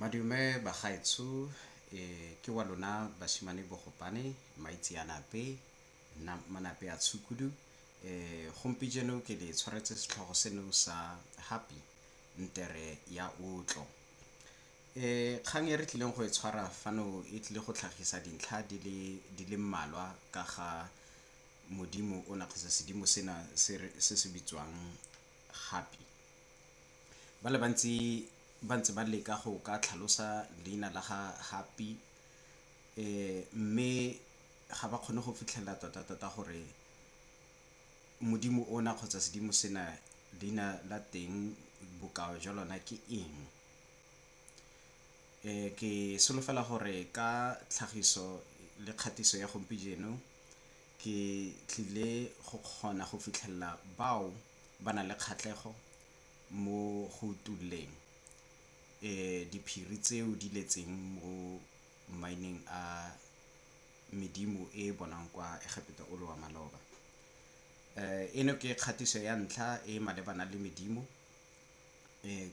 Madume bagaetsho ke wa lona basimane bogopane maitseanape nna manape a tshukudu gompijeno ke le tshwaretse setlhogo seno sa happy ntere ya otlo. Kgang e re tlileng go e tshwara fano e tlile go tlhagisa dintlha di le mmalwa ka ga modimo ona kgotsa sedimo sena se se bitswang happy. Ba le bantsi ba ntse ba leka go ka tlhalosa leina la ga Happy mme ga ba kgone go fitlhelela tota-tota gore modimo ona kgotsa sedimo sena leina la teng bokao jwa lona ke eng. Ke solofela gore ka tlhagiso le kgatiso ya ke tlile go kgona go fitlhelela bao. ba na le kgatlhego mo go utulleng diphiri tseo di letseng mo maineng a medimo e e bonwang kwa Egepeta o le wa maloba. Eno ke kgatiso ya ntlha e e malebana le medimo,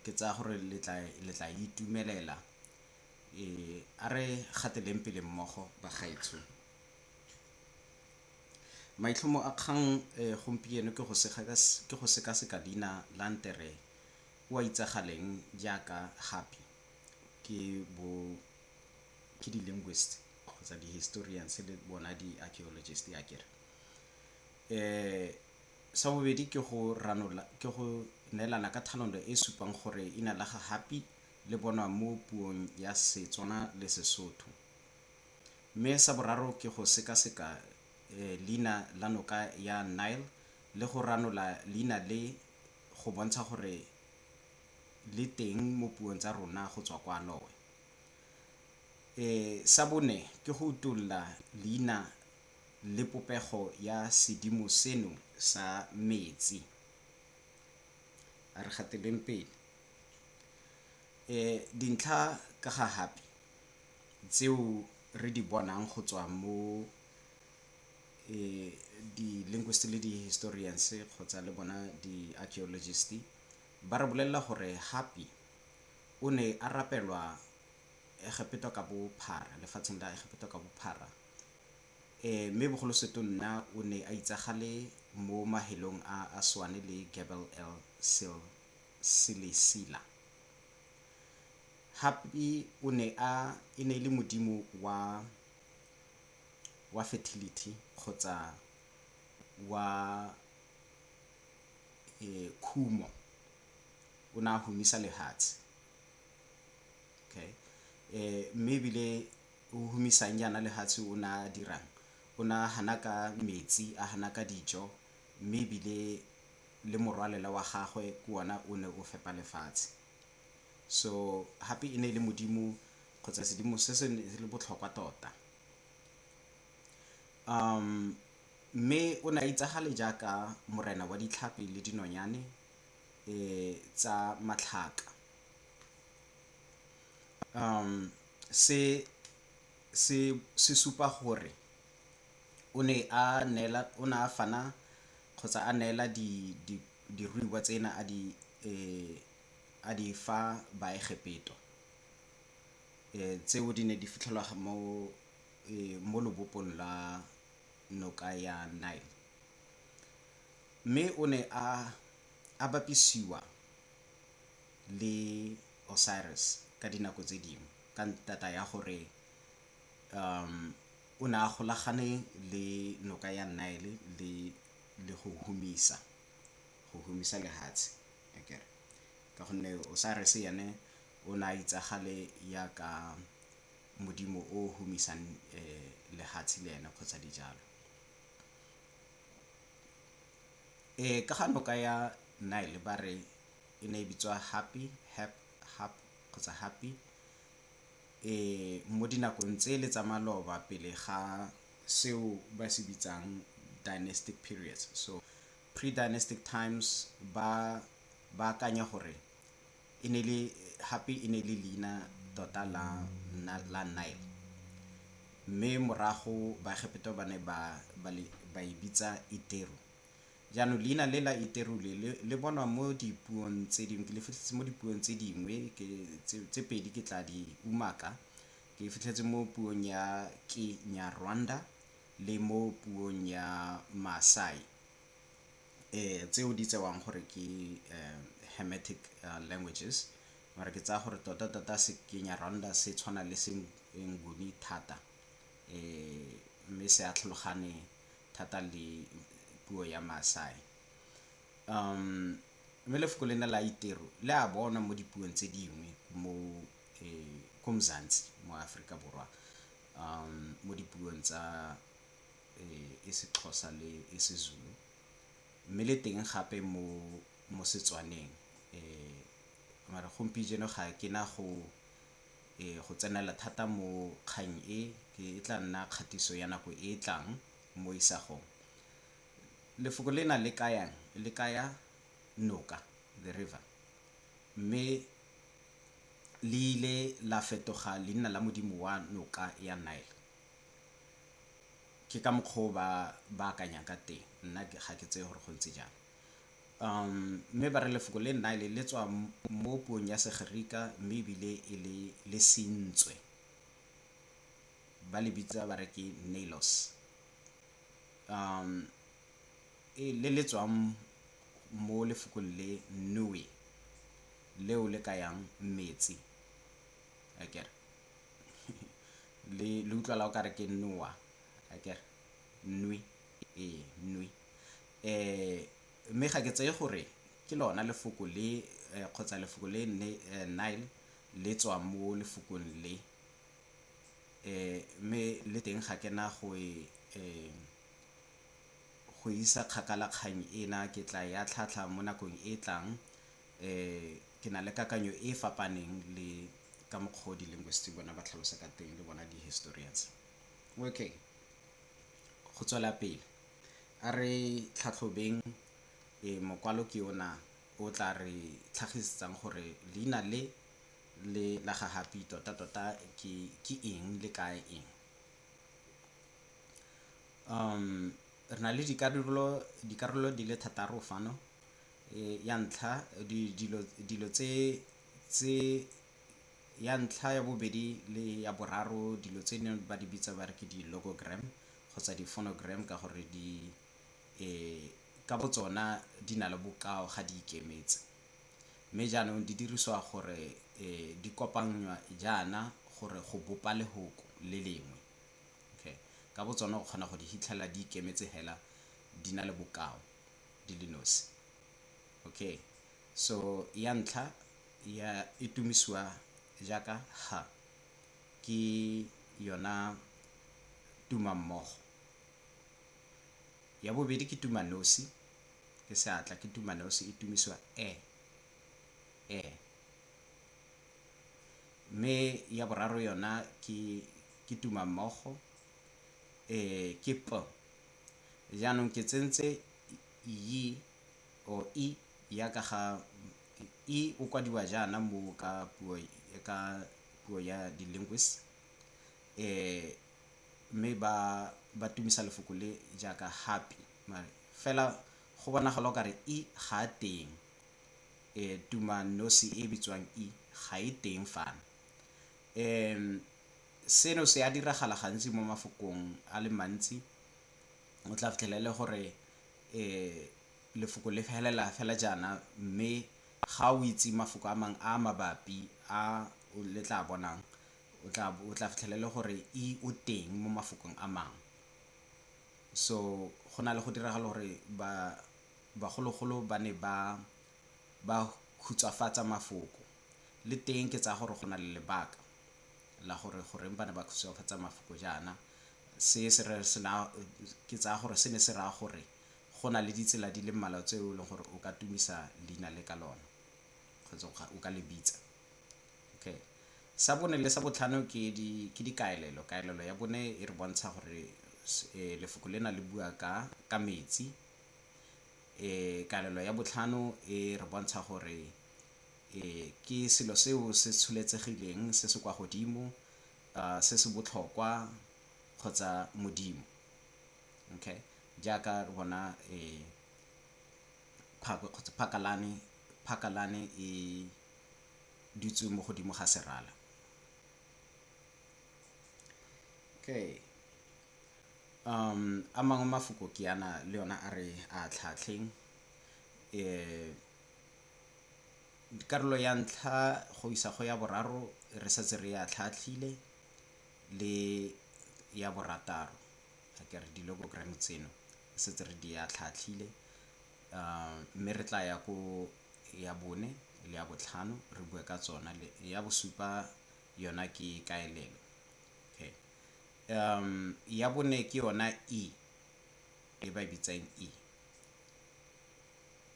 ke tsaya gore le tla le tla e itumelela. A re gateleng pele mmogo bagaetsho. Maitlhomo a kgang e gompieno ke go ke go sekaseka leina la Ntere o a itsagaleng jaaka Happy ke bo ke di linguist kgotsa di historians le bona di archaeologist ya kere eh sa bobedi ke go ranola ke go neelana ka thanolo e supang gore ina la ga Happy le bonwa mo puong ya Setswana le Sesotho Mme sa boraro ke go sekaseka leina la noka ya Nile le go ranola leina le go bontsha gore le teng mo puong tsa rona go tswa kwa Lowe. Sa bone ke go utulla leina le popego ya sedimo seno sa metsi. A re gateleng pele. Dintlha ka ga Hapi. tseo re di bonang go tswa mo eh, di-linguist le di-historians kgotsa le bona di-archaeologist ba re bolelela gore hapi o ne a rapelwa egepeto ka bophara lefatsheng la egepeto ka bophara eh mme bogolo seto nna o ne a itsagale mo mahelong a a swane le Gebel el Sil Silisila Happy o ne a e ne e le modimo wa wa fertility kgotsa wa khumo o ne a humisa lehatshe okay mme ebile o humisang jaana lehatshe o ne a dirang o ne a hana ka metsi a hana ka dijo mme ebile le morwalela wa gagwe ke ona o ne o fepa lefatshe. so hape e ne e le modimo kgotsa sedimo se se le botlhokwa tota um mme o ne a itsagale jaaka morena wa ditlhapi le dinonyane e tsa matlhaka um se se se supa gore o ne a neela o ne a fana kgotsa a neela di diruiwa tsena a di a di fa Baegepeto, e, tseo di ne di fitlhelwa mo, e, mo lobopong la noka ya Nile. Mme o ne a, a bapisiwa le Osiris ka dinako tse dingwe ka ntata ya gore, um, o ne a golagane le noka ya Nile le, le go humisa. go humisa lehatshe akere ka gonne Osiris ene o ne a itsagale yaka modimo o o humisang lehatshe le ene kgotsa dijalo. Ka ga noka ya Nile ba re e ne e bitswa Hapi, Hep, Hap kgotsa Hapi mo dinakong tsele tsa maloba pele ga seo ba se bitsang dynastic periods. So pre-dynastic times ba ba akanya gore e ne le hape e ne le leina tota la la Nile mme morago baegepeto ba ne ba ba e bitsa Iteru jaanong leina le la Iteru le le bonwa mo dipuong tse dingwe ke le fitlhetse mo dipuong tse dingwe ke tse pedi ke tla di umaka Ke e fitlhetse mo puong ya Kinyarwanda le mo puong ya Maasai tseo di tsewang gore ke Hermetic languages mara ke tsaya gore tota tota se Kinyarwanda se tshwana le se Nguni thata mme se a tlhalogane thata le puo ya Maasai. Mme lefoko lena la Iteru le a bonwa mo dipuong tse dingwe mo um ko mzansi mo aforika borwa um mo dipuong tsa um e sexhosa le e sezulu mme le teng gape mo mo setswaneng um mara gompieno ga ke na go um go tsenela thata mo kgang e ke e tla nna kgatiso ya nako e e tlang mo isagong lefoko le na le kayang le kaya noka the river mme le ile la fetoga leina la modimo wa noka ya Nile. Ke ka mokgwa o ba ba akanyang ka teng, nna ga ke tseye gore go ntse jang. Mme ba re lefoko le Nile le tswa mo puong ya Segerika mme ebile e le le sentswe, ba le bitsa ba re ke Neilos. e le le tswang mo lefokong le nue leo le kayang metsi akere le le utlwala o kare ke noa akere nui e nui eh mme ga ke tseye gore ke lona lefoko le eh, kgotsa lefoko le ne eh, nile le tswa mo lefokong le eh mme le teng ga ke na go e eh, go isa kgakala kgang ena, ke tla e atlhaatlha mo nakong e e tlang. Ke na le kakanyo e e fapaneng le ka mokgwa o di-linguist bona ba tlhalosa ka teng le bona di-historians. Okay, go tswela pele, a re tlhatlhobeng mokwalo ke ona o tla re tlhagisetsang gore leina le le la ga Happy tota-tota ke eng le kaya eng. Re na le dikarolo di le thataro fano ya ntlha dilo tse ya ntlha ya bobedi le ya boraro dilo tse neng ba di bitsa ba re ke di logogram kgotsa di phonogram ka gore di ka bo tsona di na le bokao ga di ikemetse. Mme jaanong di dirisiwa gore di kopangnywa jaana gore go bopa lehoko le lengwe. Okay. Ka botsone o kgona go di hitlhela di ikemetse hela di na le bokao di le nosi. Okay. So ya ntlha ya e tumisiwa jaaka ha ke yona tumammogo. Ya bobedi ke tumanosi ke seatla ke tumaleo se itumisiwa e e mme ya boraro yona ke ke tuma mmogo e ke p jaanong ke tsentse yi o i ya ka ga i o kwadiwa jaana mo ka puo ka puo ya di-linguist eh mme ba ba tumisa lefoko le jaaka happy mare fela go bonagala o kare i ga a teng e tuma nosi e bitswang i ga e teng fana um seno se a diragala gantsi mo mafokong a le mantsi o tla fitlhela e le gore um lefoko le felela fela jaana mme ga o itse mafoko a mangwe a mabapi a le tla bonang o tla bo o tla fitlhela e le gore e o teng mo mafokong a mangwe so go na le go diragala gore ba bagologolo ba ne ba ba khutshwafatsa mafoko le teng ke tsaya gore go na le lebaka la gore goreng ba ne ba khutshwafatsa mafoko jaana se se re se na ke tsaya gore se ne se raya gore go na le ditsela di le mmalwa tse e leng gore o ka tumisa leina le ka lona kgotsa o ka le bitsa Sa bone le sa botlhano ke dikaelelo. Kaelelo ya bone e re bontsha gore lefoko lena le bua ka metsi. Kaelelo ya botlhano e re bontsha gore ke selo seo se tsholetsegileng se se kwa godimo se se botlhokwa kgotsa Modimo jaaka re bona phakwe kgotsa phakalane e. dutswe mo godimo ga serala. Okay. Um, a mangwe mafoko ke yana le yona a re a tlhatlheng. Eh, karolo ya ntlha go isa go ya boraro re setse re ya tlhatlhile le ya borataro a ke re di-logogram tseno re setse re di ya tlhatlhile um mme re tla ya ko ya bone le ya botlhano re bue ka tsona le ya bosupa yona ke kaelelo okay um ya bone ke yona e e ba e bitsang e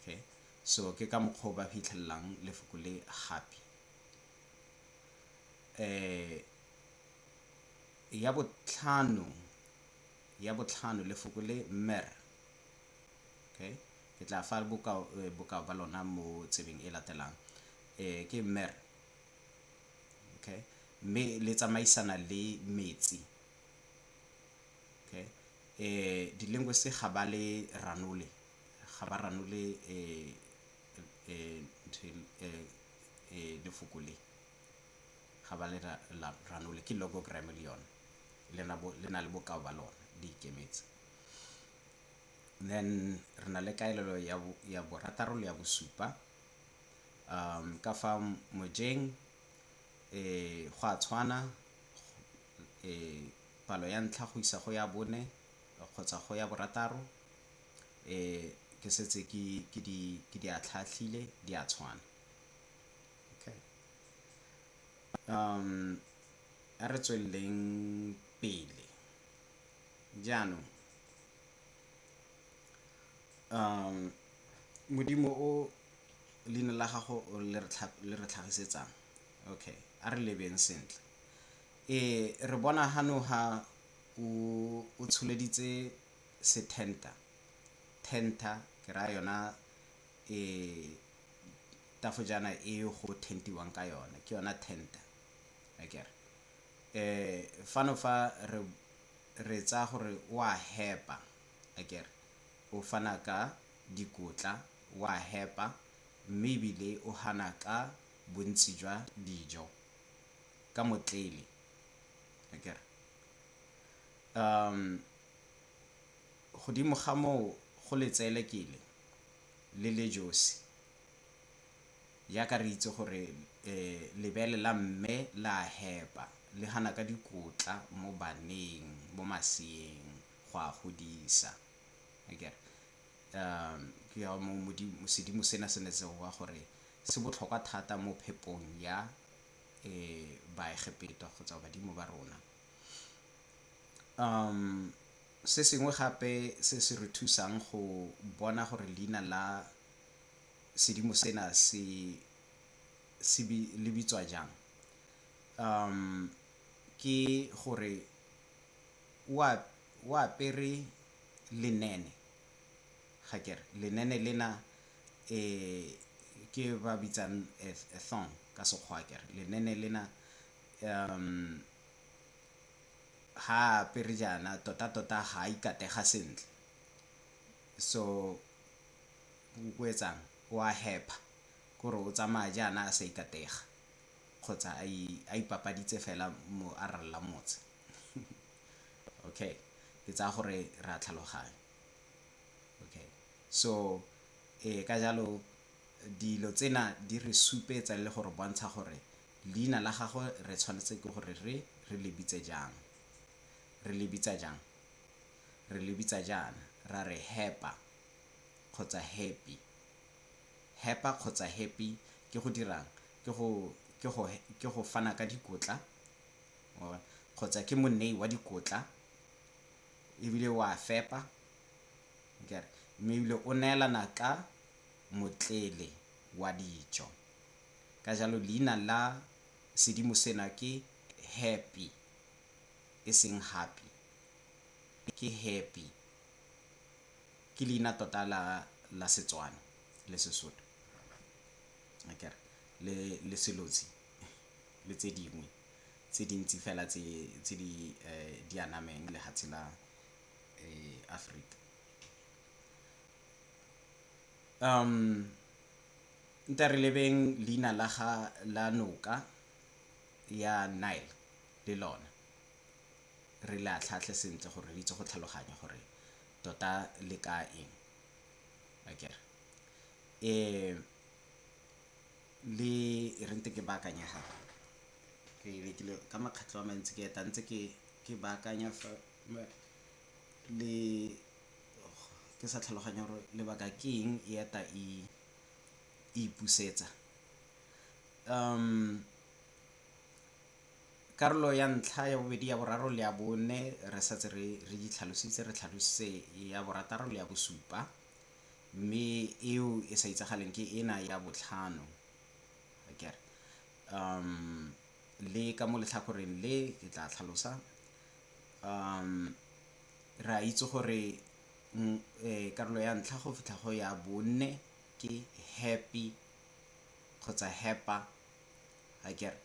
okay so ke ka mokgwa o ba fitlhelelang lefoko le gape eh ya botlhano ya botlhano lefoko le mer Okay. Ke tla fa bokao, eh, bokao ba lona mo tsebeng e latelang. Eh, ke mer. Okay. Mme le tsamaisana le metsi. Okay. Eh, di-linguist ga ba le ranole. Ga ba ranole eh, eh, eh, eh, lefoko le. Ga ba le ra, la, ranole. Ke logogram le yone. Le na, bo, le na le bokao ba lona. Di ikemetse. Then re na le kaelelo ya borataro le ya bosupa. Ka fa mojeng go a tshwana palo ya ntlha go isa go ya bone kgotsa go ya borataro ke setse ke di atlhaatlhile di a tshwana. A re tsweleleng pele. Jaanong, Modimo o leina la gago le re le re tlhagisetsang? Okay, a re lebeng sentle. Re bona ha no ha o o tsholeditse sethenta, thenta ke raya yona tafojana e go thentiwang ka yone, ke yona thenta akere? Eh, fano fa re re tsaya gore o a hepa, akere o fana ka dikotla, o a hepa mme ebile o hana ka bontsi jwa dijo ka motlele, akere. Um, godimo ga moo go letseelekele le le josi. Jaaka re itse gore lebele la mme le a hepa, le gana ka dikotla mo baneng, mo maseeng, go a godisa. Akere? Ke ka moo Modimo, sedimo sena se ne se boa gore se botlhokwa thata mo phepong ya Baegepeta kgotsa badimo ba rona. Se sengwe gape se se re thusang go bona gore leina la. sedimo sena se se le bitswa jang. Ke gore o apere lenene ga ke re, lenene lena ke ba bitsang a thong ka Sekgowa ke re. Lenene lena ha a apere jaana tota-tota ga a ikatega sentle so. O etsang? O a hepa. Ke gore o tsamaya jaana a sa ikatega kgotsa a ipapaditse fela mo a ralla motse. Okay. Ke tsaya gore re a tlhaloganya. Okay. So ee ka jalo dilo tsena di re supetsa le go re bontsha gore leina la gagwe re tshwanetse ke gore re re le bitse jang. Re le bitsa jang? Re le bitsa jaana, ra re hepa. kgotsa happy. Hapa kgotsa happy ke go dirang? Ke go ke go ke go fana ka dikotla kgotsa ke monei wa dikotla ebile wa fepa nkere mme ebile o neelana ka motlele wa dijo ka jalo leina la sedimo sena ke happy e seng happy ke happy ke leina tota la la Setswana le Sesotho akere le le Selotsi le tse dingwe tse dintsi fela tse tse di di anameng lefatshe la Aforika. Nte re lebeng leina la ga la noka ya Nile le lone. re le atlhaatlhe sentle gore re itse go tlhaloganya gore tota le ka eng akere e le re ntse ke baakanya ga ke lekile ka makgatlho a mantsi ke eta ntse ke ke baakanya fa le ke sa tlhaloganya gore lebaka ke eng e eta e ipusetsa um Karolo ya ntlha, ya bobedi, ya boraro le ya bone re setse re re di tlhalositse, re tlhalositse ya borataro le ya bosupa mme eo e sa itsagaleng ke ena ya botlhano akere. Um le ka mo letlhakoreng le ke tla tlhalosa um re a itse gore karolo ya ntlha go fitlha go ya bone ke happy kgotsa heppa akere.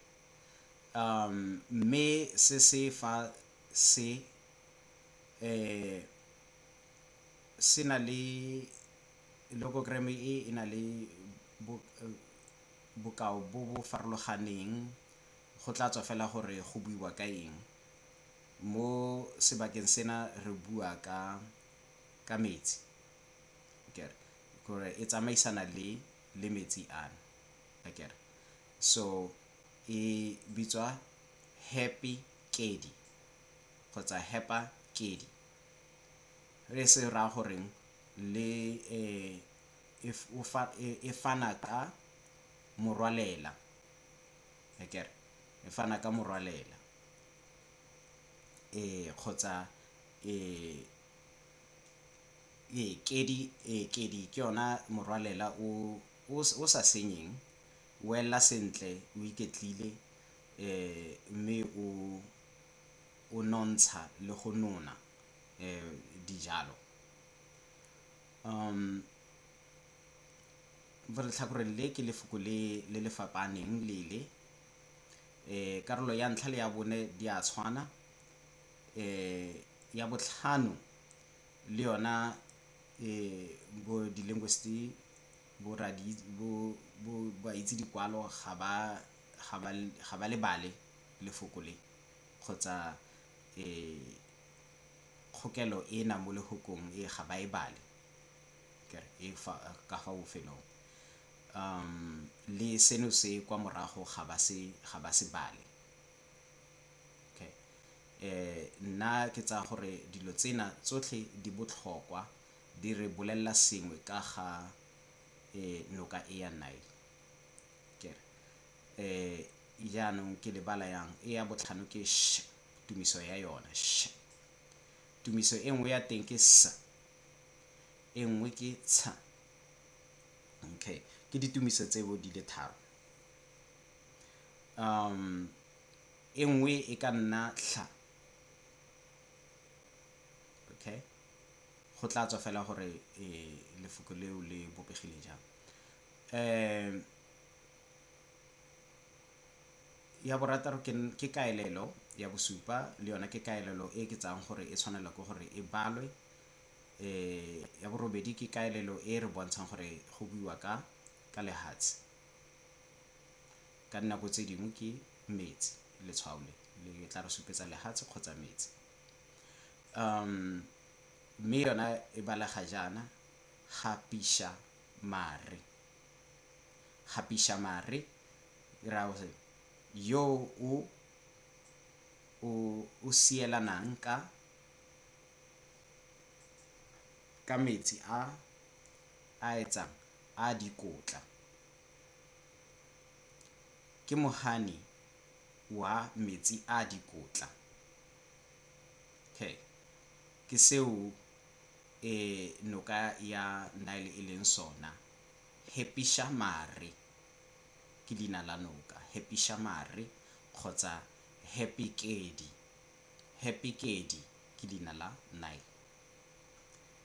Mme se se fa se se na le logogram e e na le bokao bo bo farologaneng go tla tswa fela gore go buiwa ka eng. Mo sebakeng sena re bua ka metsi gore e tsamaisana le metsi ana. akere so e bitswa happy kedi kgotsa hepa kedi re se ra goreng le eh, e, e, e fana ka morwalela akere e fana ka morwalela eh kgotsa eh ee kedi ee kedi ke yona morwalela o o o sa senyeng, o elela sentle, o iketlile mme o o nontsha le go nona dijalo. Mo letlhakoreng le ke lefoko le le le fapaaneng le le, karolo ya ntlha le ya bone di a tshwana, ya botlhano le yona Ee, bo di-linguist bo baitse dikwalo ga ba lebale lefoko le kgotsa kgokelo e nang mo lefokong e ga ba e bale ka fa bofelong. Le seno se kwa morago ga ba se bale. Okay. Nna ke tsaya gore dilo tsena tsotlhe di botlhokwa di re bolelela sengwe ka ga noka e ya Nile. Kere jaanong ke lebala yang e ya botlhano ke sh tumiso ya yone sh tumiso e nngwe ya teng ke s e nngwe ke tsha okay ke ditumiso tseo di le tharo Um, e nngwe e ka nna tlha. Okay? Go tla tswa fela gore e, lefoko leo le bopegile jang. Um, ya borataro ke kaelelo ya bosupa le yona ke kaelelo e ke tsayang gore e tshwanela ke gore e balwe eh ya borobedi ke kaelelo e re bontshang gore go buiwa ka ka lehatshe Ka dinako tse dingwe ke metsi, letshwao le le tla re supetsa lehatshe kgotsa metsi. Mme yona e balega jaana, gapisa mare. Gapisa mare e raya gore yo o o sielanang ka ka metsi a A etsang? A a dikotla. Ke mohane wa metsi a a dikotla. Okay. Ke seo e noka ya Nile e leng sona. Hepisha Mare ke leina la noka. Hepisha Mare kgotsa Hepikedi. Hepikedi ke leina la Nile.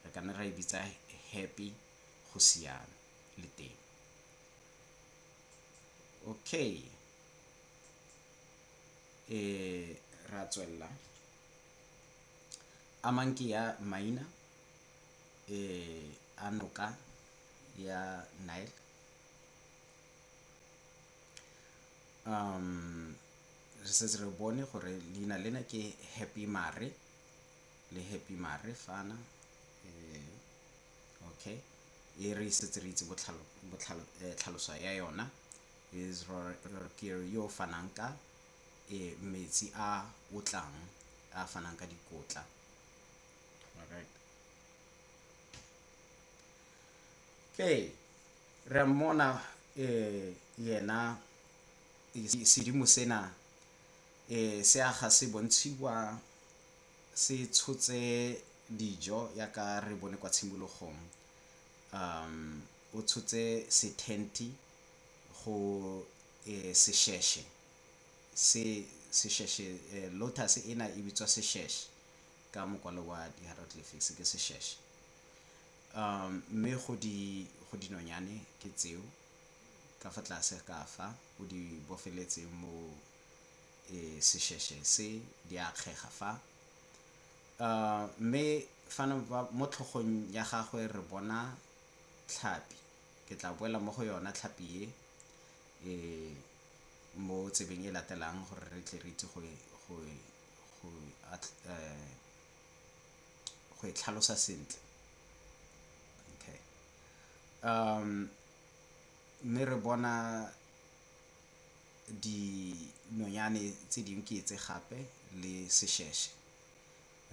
re ka ne ra e bitsa happy go siame le teng okay e ra tswelela a mang ke ya maina e a noka ya nile um re setse re bone gore leina lena ke happy mare le Happy Marefana okay e re setse re itse botlhalo botlhalo tlhaloso ya yona is rorokere yo fanang ka e metsi a otlang a fanang ka dikotla alright okay re mmona eh yena sedimo sena eh se aga se bontshiwa se tshotse dijo yaka re bone kwa tshimologong. O tshotse se thenthi go sesheshe se sesheshe lotus ena e bitswa sesheshe ka mokwalo wa di hieroglyphics ke sesheshe. Mme go di go dinonyane ke tseo ka fa tlase ka fa o di bofeletseng mo. sesheshe se di a kgega fa. Mme fano mo tlhogong ya gagwe re bona tlhapi, ke tla boela mo go yona tlhapi e mo tsebeng e latelang gore re tle re itse go e tlhalosa sentle. Mme re bona dinonyane tse dingwe ke etse gape le sesheshe.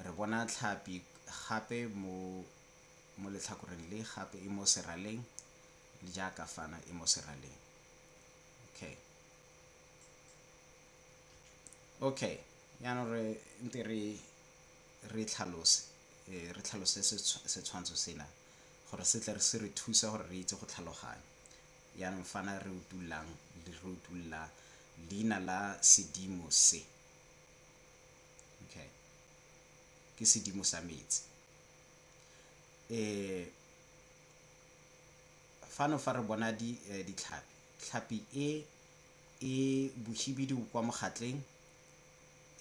Re bona tlhapi gape mo letlhakoreng le gape e mo seraleng le jaaka fana e mo seraleng. Okay. Okay, yaanong re nte re re tlhalose eh, re tlhalose setshwantsho sena gore se tle se re thusa gore re itse go tlhaloganya. Jaanong fana re utullang, re utulla leina la sedimo se. Okay. Ke sedimo sa metsi. E, fano fa re bona di, eh, ditlhapi. Tlhapi e e bohibidu kwa mogatleng,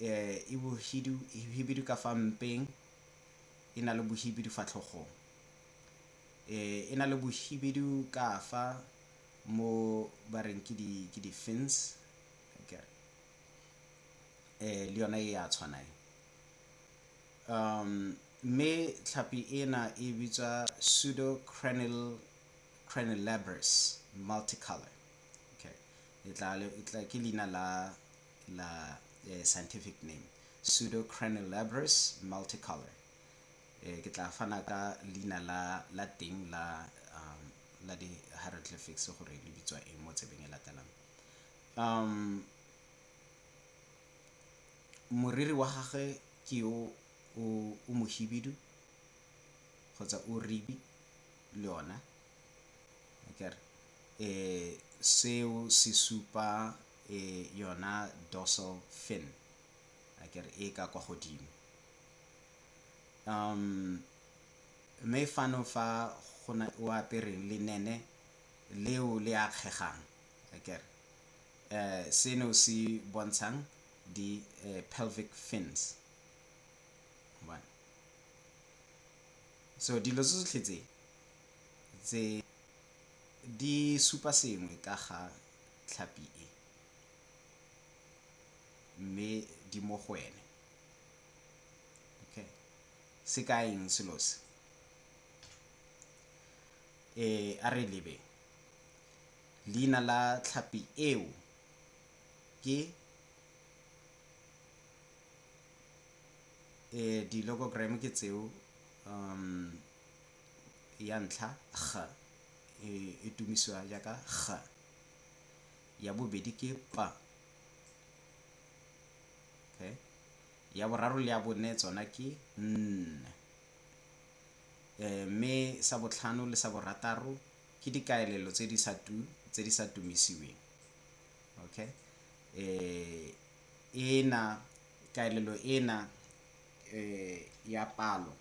eh, e bohidu, hibidu ka fa mpeng, e na le bohibidu fa tlhogong. E, e na le bohibidu kafa mo ba reng ke di ke di fins okay. E, le yona e a tshwana e um mme tlhapi ena e bitswa pseudocranil cranilabris multicolor okay. e tla e tla ke leina la la eh, scientific name pseudocranilabris multicolor Eh, ke tla fana ka leina la, la teng la, um, la di-hieroglyphics gore le bitswa eng mo tsebeng e latelang. Um, moriri wa gagwe ke yo o, o mohibidu kgotsa o ribi le ona akere eh seo se supa eh yona dorsal fin akere e ka kwa godimo Mme fano fa go na o apere lenene leo le akgegang akere. Seno se bontshang di pelvic fins. So dilo tse tsotlhe tse, tse di supa sengwe ka ga tlhapi e, mme di mo go wene. okay se ka eng selo se eh a re lebe leina la tlhapi eo ke eh di-logogram ke tseo um ya ntlha g e, e tumisiwa jaaka g ya bobedi ke p ya boraro le ya bone tsona ke n mme sa botlhano le sa borataro ke dikaelelo tse di sa tu tse di sa tumisiweng okay ena kaelelo ena ya palo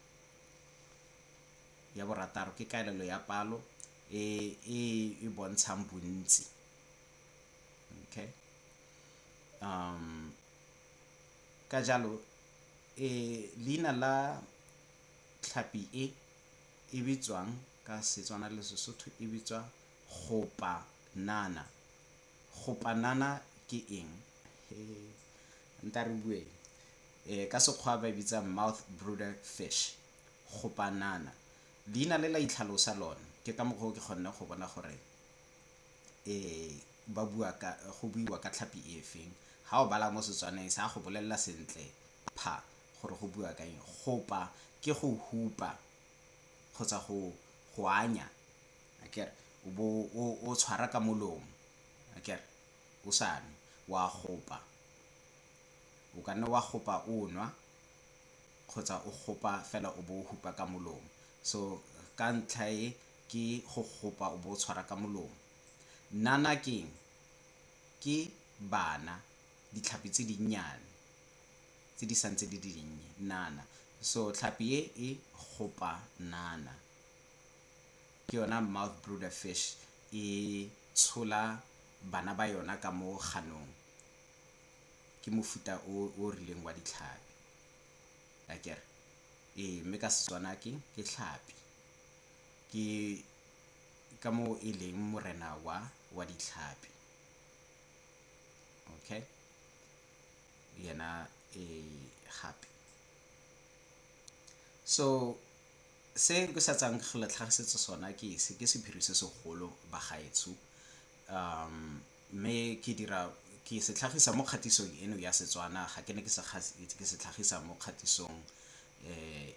ya borataro ke kaelelo ya palo e e bontshang bontsi Okay. Um, ka jalo e leina la tlhapi e e bitswang ka Setswana le Sesotho e bitswa gopanana. Gopanana ke eng? Nka re bueng. Eh, ka Sekgwa ba e bitsa mouth brooder fish. Gopanana. Leina le la itlhalosa lone. Ke ka mokgwa o ke kgonne go bona gore ba bua ka go buiwa ka tlhapi efeng ha o bala mo setswaneng sa go bolelela sentle pha gore go bua ka eng gopa ke go hupa kgotsa go go anya akere o bo o tshwara ka molomo akere o sa nwe wa gopa o ka nne wa gopa o nwa kgotsa o gopa fela o bo o hupa ka molomo so ka ntlha e Ke go gopa o bo o tshwara ka molomo. Nana keng? Ke bana, ditlhapi tse dinnyane tse di sa ntse di le dinnye. Nana. So tlhapi e e gopa nana. Ke yona mouth brooder fish e tshola bana ba yona ka mo ganong. Ke mofuta o o rileng wa ditlhapi. Akere? Ee, mme ka Setswana ke tlhapi. Ke ka moo e leng morena wa wa ditlhapi. Okay? Le yena e gape. So se ke sa tsang go le tlhagisetsa sona ke se, ke sephiri se segolo bagaetsho. Mme ke dira, ke se tlhagisa mo kgatisong eno ya Setswana, ga ke ne ke se tlhagisa mo kgatisong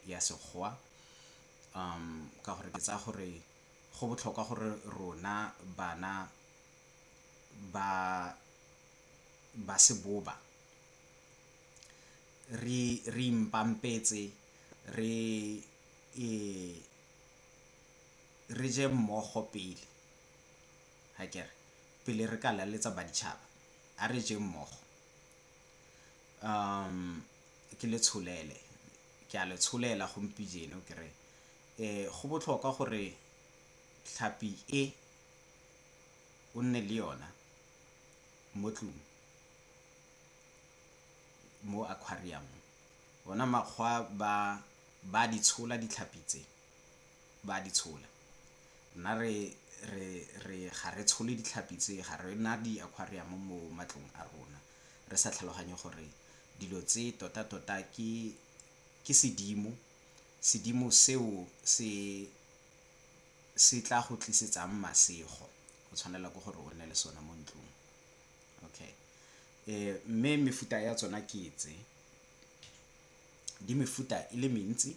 ya Sekgowa. Ka gore ke tsaya gore go botlhokwa gore rona bana ba ba seboba re re ipampetse re re je mmogo pele akere pele re ka laletsa baditšhaba a re jeng mmogo. ke le tsholele ke a le tsholela gompijeno ke re go botlhokwa gore tlhapi e o nne le yona mo tlung mo aquarium ona makgwa ba ba di tshola ditlhapi tse ba di tshola nna re re ga re tshole ditlhapi tse ga re na di-aquarium mo matlong a rona. re sa tlhaloganye gore dilo tse tota tota ke ke sedimo, sedimo seo se se tla go tlisetsang masego o tshwanela ke gore o nne le sone mo ntlong. Okay. Eh, mme mefuta ya tsona ke tse di mefuta e le mentsi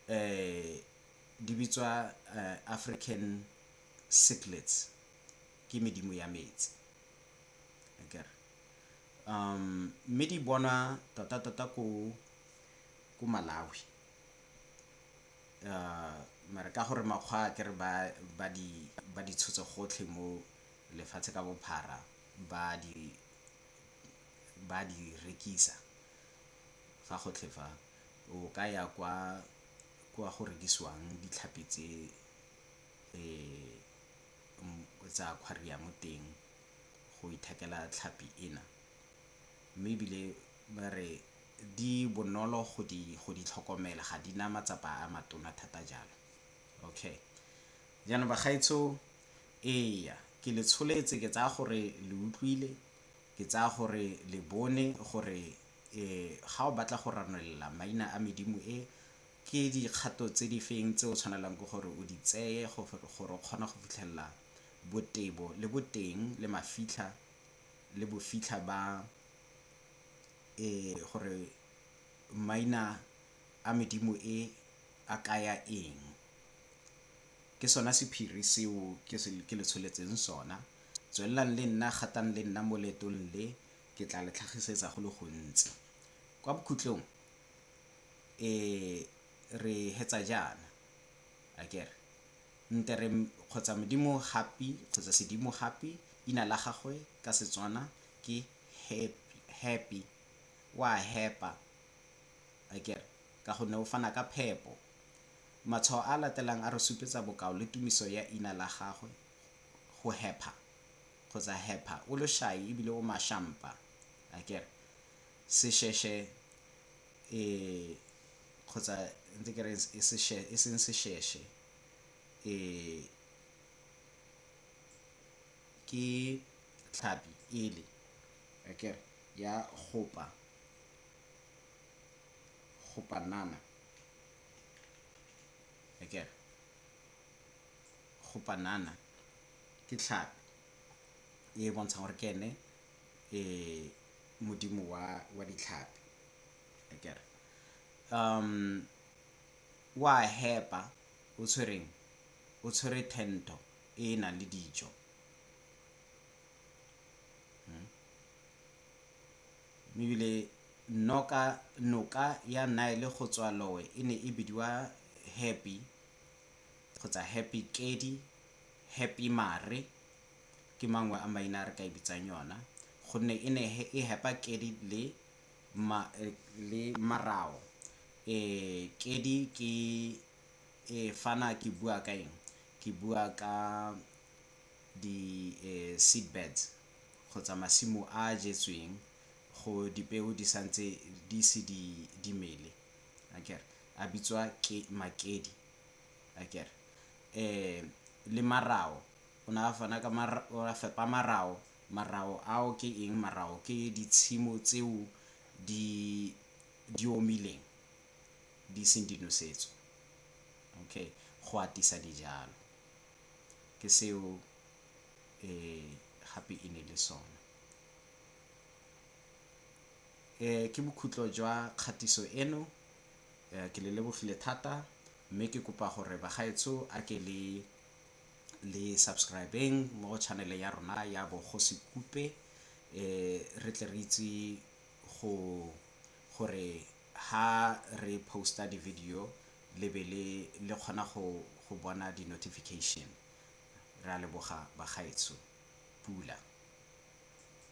eh di bitswa eh, African cichlids ke medimo ya metsi akere um mme di bonwa tota tota ko ko malawi uh mare ka gore makgwa a kere ba ba di ba di tshotse gotlhe mo lefatshe ka bophara ba di ba di rekisa fa gotlhe fa o ka ya kwa kwa go rekisiwang ditlhapi tse um o tsa aquarium teng go ithekela tlhapi ena mme ebile ba re di bonolo go di go di tlhokomela ga di na matsapa a matona thata jalo okay jaanong bagaetsho eya ke le tsholetse ke tsaya gore le utlwile ke tsaya gore le bone gore eh ga o batla go ranolela maina a medimo e Ke dikgato tse di feng tse o tshwanelang ke gore o di tseye gore o kgona go fitlhelela botebo le boteng le mafitlha le bofitlha ba e gore maina a medimo e a kaya eng? Ke sona sephiri seo ke le tsholetseng sona. Tswelelang le nna, gatang le nna mo leetong le, ke tla le tlhagisetsa go le gontsi. Kwa bokhutlong, E re hetsa jaana, akere? Nte re kgotsa Modimo Happy kgotsa Sedimo Happy, ina la gagwe ka Setswana ke Happy, o a hepa, akere? Ka gonne o fana ka phepo. Matshwao a a latelang a re supetsa bokao le tumiso ya ina la gagwe, go hepha kgotsa hepha, o loshai ebile o mashampa, akere? Sesheshe e kgotsa ntse ke re e seng sesheshe e ke tlhapi ele akere ya gopa nama akere. Gopa nama ke tlhapi e bontshang gore ke ene e modimo wa wa ditlhapi akere um wa hepa o tshwereng o tshwere tento e e nang le dijo hmm? ebile noka noka ya nile go tswa lowe e ne e bidiwa happy kgotsa happy kedi happy mare Ke mangwe a maina a re ka e bitsang yona gonne e ne e hepa kedi le le marao. Kedi ke fana ke bua ka eng, ke bua ka di seed beds kgotsa masimo a a jetsweng go dipeo di santse di ise di mele akere, a bitswa makedi akere. Le marao. O ne a fana ka o a fepa marao. Marao ao ke eng? Marao ke ditshimo tseo di di omileng di seng di nosetswe okay go atisa dijalo ke seo gape e ne e le sone. Ke bokhutlo jwa kgatiso eno ke le lebogile thata mme ke kopa gore bagaetsho a ke le le subscribeng mo go channel ya rona ya bogosi kupe eh re tle re itse go gore ha re posta di video le be le le kgona go go bona di notification re a leboga bagaetsho pula